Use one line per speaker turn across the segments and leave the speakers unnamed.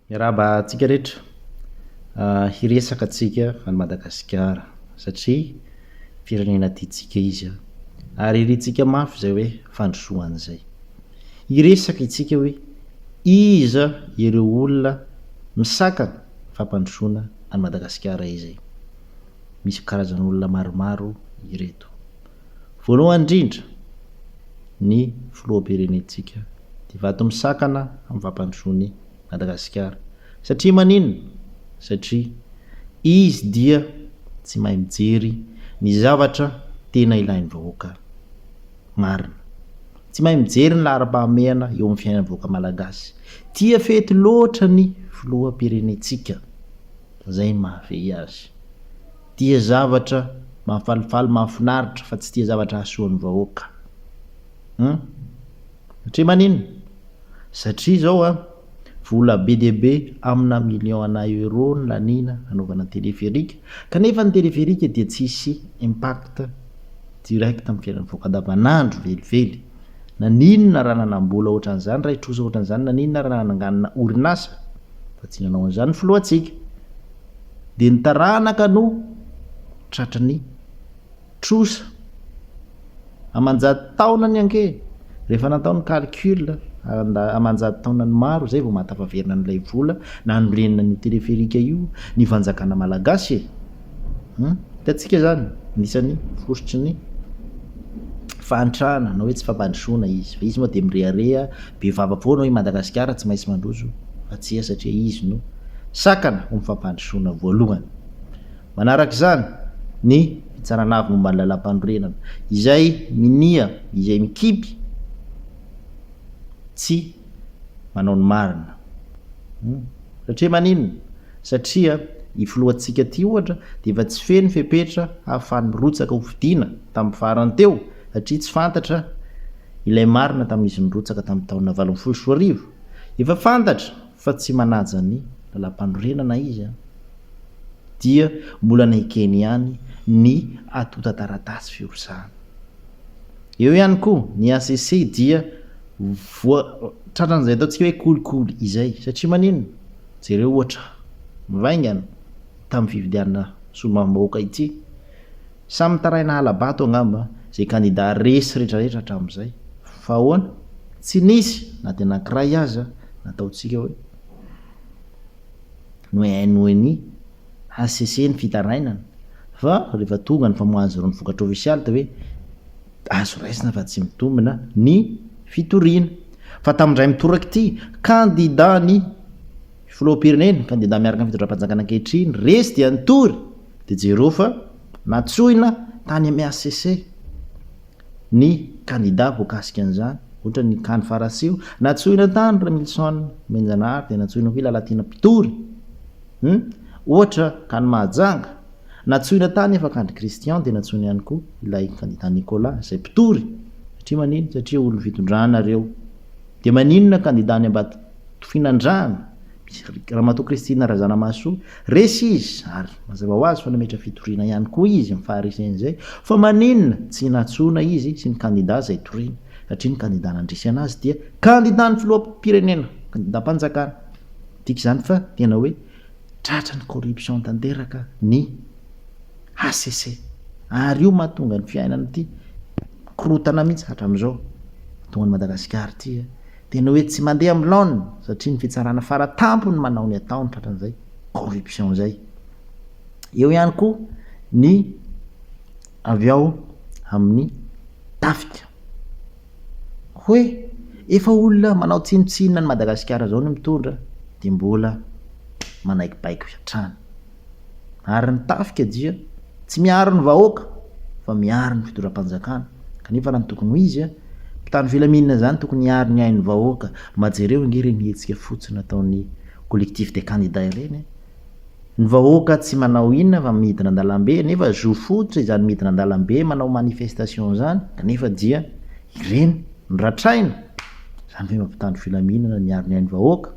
Miarahaba antsika rehetra. Hiresaka antsika an'i Madagasikara satria firenena tiantsika izy ary irintsika mafy izay hoe fandrosoana izay. Hiresaka isika hoe iza ireo olona misakana fampandrosoana an'i Madagasikara izay. Misy karazan'olona maromaro ireto. Voalohany indrindra, ny Filoham-pirenentsika dia vato misakana amin'ny fampandrosoan'i Madagasikara. Satria maninona? Satria izy dia tsy mahay mijery ny zavatra tena ilain'ny vahoaka marina. Tsy mahay mijery ny laharam-pahamehana eo amin'ny fiainan'ny vahoaka malagasy. Tia fety loatra ny Filoham-pirenentsika. Izay ny maha-ve azy. Tia zavatra mampifalifaly mahafinaritra fa tsy tia zavatra hahasoa ny vahoaka hum satria maninn? satria zao a vola be dia be amina million ana euro no laniana hanaovana téléphérique kanefa ny téléphérique dia tsy hisy impact direct amin'ny fiainan'ny vahoaka andavanandro velively naninona raha nanambola ohatran'izany raha hitrosa ohatran'izany naninona raha nananganina orinasa fa tsy nanao an'izany ny filohantsika Dia ny taranaka no tratry ny trosa. Aman-jato taona ny anke. Rehefa natao ny calcul aman-jato taonany maro izay vao mahatafaverina an'ilay vola nanorenana an'io téléphérique io ny fanjakana malagasy e! Hum? Hitantsika izany, anisan'ny fositry ny fahantrana na hoe tsy fampandrosoana izy. Fa izy moa dia mirehareha. be vava foana hoe Madagasikara tsy maintsy mandroso fa tsia satria izy no sakana ho mifampandrosoana voalohany. Manaraka izany ny fitsarana avy momba ny lalampanorenana izay minia izay mikimpy tsy manao ny marina. Hum. Satria maninona? Satria i filohantsika ty ohatra dia efa tsy feno fepetra hahafany mirotsaka ho fidiana tamin'ny farany teo satria tsy fantatra ilay marina tamin'izy nirotsaka tamin'ny taona valo ambin'ny folo sy roa arivo. Efa fantatra fa tsy manaja ny Lalàmpanorenana izy an! Dia mbola nekeny ihany ny antontan-taratasy firotsahana. Eo ihany koa ny HCC dia voa tratran'izay ataontsika hoe kolikoly izay. Satria maninona? Jereo ohatra mivaingana tamin'ny fifidianana solombavambahoaka ity. Samy mitaraina hala-bato angamba izay kandida resy retraretra hatramin'izay. Fa ahoana? Tsy nisy na dia anankiray aza nataontsika hoe noenoiny hcc ny fitarainana. Fa rehefa tonga ny famoahana zero ny vokatra ofisialy dia hoe azo raisina fa tsy mitombina ny fitoriana. Fa tamin'indray mitoraka ity, kandida ny filoham-pirenena, kandida miaraka amin'ny fitondram-panjakana ankehitriny, resy dia nitory. dia jereo fa nantsoina tany amin'ny hcc ny kandida voakasika an'izany, ohatra ny Can Farasio, nantsoina tany Ramilison Menjanahary dia nantsoina koa i Lalatiana Mpitory, hum, ohatra tany Mahajanga, nantsoina tany Afakandry Christian dia nantsoina ihany koa ilay kandida Nicolas izay mpitory, satria maninona? satria olon'ny fitondrana ireo, dia maninona kandida any Ambatofinandrahana? Ramatoa Christine Razanamahasoa, resy izy ary mazava ho azy fa nametra fitoriana ihany koa izy amin'ny faharisen'izay fa maninona tsy nantsoina izy sy ny kandida izay toriany satria ny kandida nandresy anazy dia kandidan'ny filoham-pirenena, kandidam-panjakana. Midika izany fa tena hoe tratran'ny corruption tanteraka ny HCC ary io mahatonga ny fiainana ity mikorontana mihitsy hatramin'izao, mahatonga an'i Madagasikara ity. dia ny hoe tsy mandeha amin'ny laoniny satria ny fitsarana fara tampony manao ny ataony tratran'izay corruption izay. Eo ihany koa ny avy ao amin'ny tafika hoe efa olona manao tsinontsinona an'i Madagasikara izao no mitondra dia mbola manaikipaiko hatrany. Ary ny tafika dia tsy miaro ny vahoaka fa miaro ny fitondram-panjakana kanefa raha ny tokony ho izy a, mpitandro filaminana zany tokony hiaro ny ain'ny vahoaka, mba jereo ange ireny hetsika fotsiny nataon'ny collectif des candidats ireny a! Ny vahoaka tsy manao inona fa midina an-dalambe nefa zo fototra izany midina an-dalambe manao manifestation zany kanefa dia ireny no ratraina! Zany ve mba mpitandro filaminana miaro ny ain'ny vahoaka?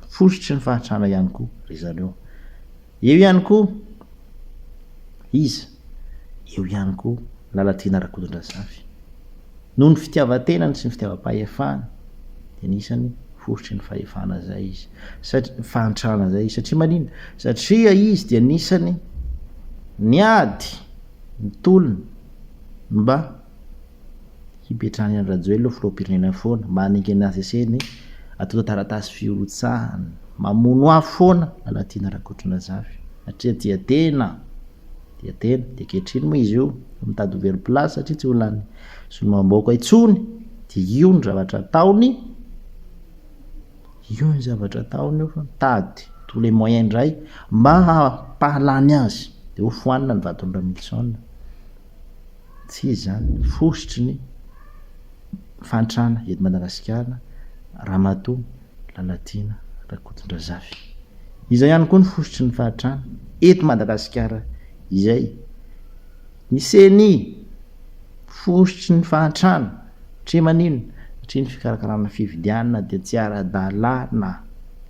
fositry ny fahantrana ihany koa ry zareo. Eo ihany koa izy, eo ihany koa Lalatiana Rakotondrazafy. Noho ny fitiavan-tenany sy ny fitiavam-pahefany dia anisan'ny fositry ny fahefana izay izy, satria fahantrana izay izy. Satria maninona? Satria izy dia anisan'ny niady ny tolony mba hipetrahan'i Andry Rajoelina ho filoham-pirenena foana mba hanenga ny azy asehiny atota taratasy firotsahana. Mamono ahy foana Lalatiana Rakotondrazafy satria tia tena, tia tena, dia ankehitriny moa izy io efa mitady ho very place satria tsy olonan'ny solombavambahoaka intsony, dia io ny zavatra ataony, io ny zavatra ataony io fa mitady tous les moyens indray mba hampahalany azy, dia hofoanina ny vaton'i Ramilison. Tsy izy izany, fositry ny fahantrana eto Madagasikara, Ramatoa Lalatiana Rakotondrazafy. Izay ihany koa ny fositry ny fahantrana eto Madagasikara izay. Ny ceni, fositry ny fahantrana, satria maninona? Satria ny fikarakarana fifidianana dia tsy ara-dalàna.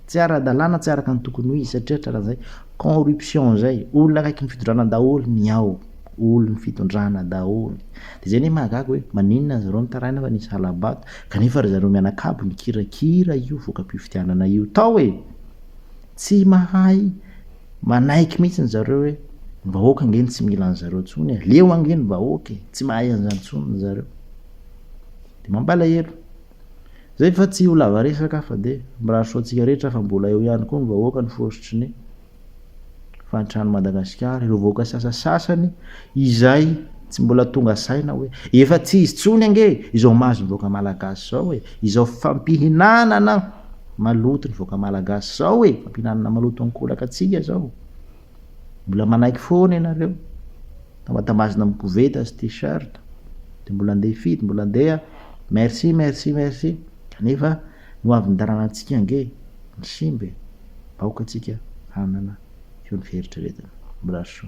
Tsy ara-dalàna, tsy araka ny tokony ho izy, satria hatreran'izay corruption izay, olona akaiky ny fitondrana daholo ny ao. olon fitondrana daholo de zay anie mahagaga hoe maninona zareo mitaraina fa nisy halabato kanefa ry zareo mianakabo nikirakira io vokapifidianana io tao e! tsy mahay manaiky mihitsiny zareo hoe ny vahoaka ange no tsy mila anzareo tsony e! leo ange ny vahoaka e! tsy mahay anzany tsony ry zareo de mampalahelo zay fa tsy ho lava resaka aho fa de mirary soa antsika rehetra fa mbola eo ihany koa ny vahoaka ny fositry ny fahantran'i Madagasikara, ireo vahoaka sasasasany izay tsy mbola tonga saina hoe efa tsy izy intsony ange izao mahazo ny vahoaka malagasy izao e, izao fampihinanana maloto ny vahoaka malagasy izao e, fampihinanana maloto ankolaka antsika izao, mbola manaiky foana ianareo, tambatambazina amin'ny koveta sy tee-shirt, dia mbola andeha hifidy, mbola andeha merci merci merci, nefa. Ho avy ny taranantsika ange ny simba e! Aoka tsika hanana feo ny fieritreretana. Mbraso.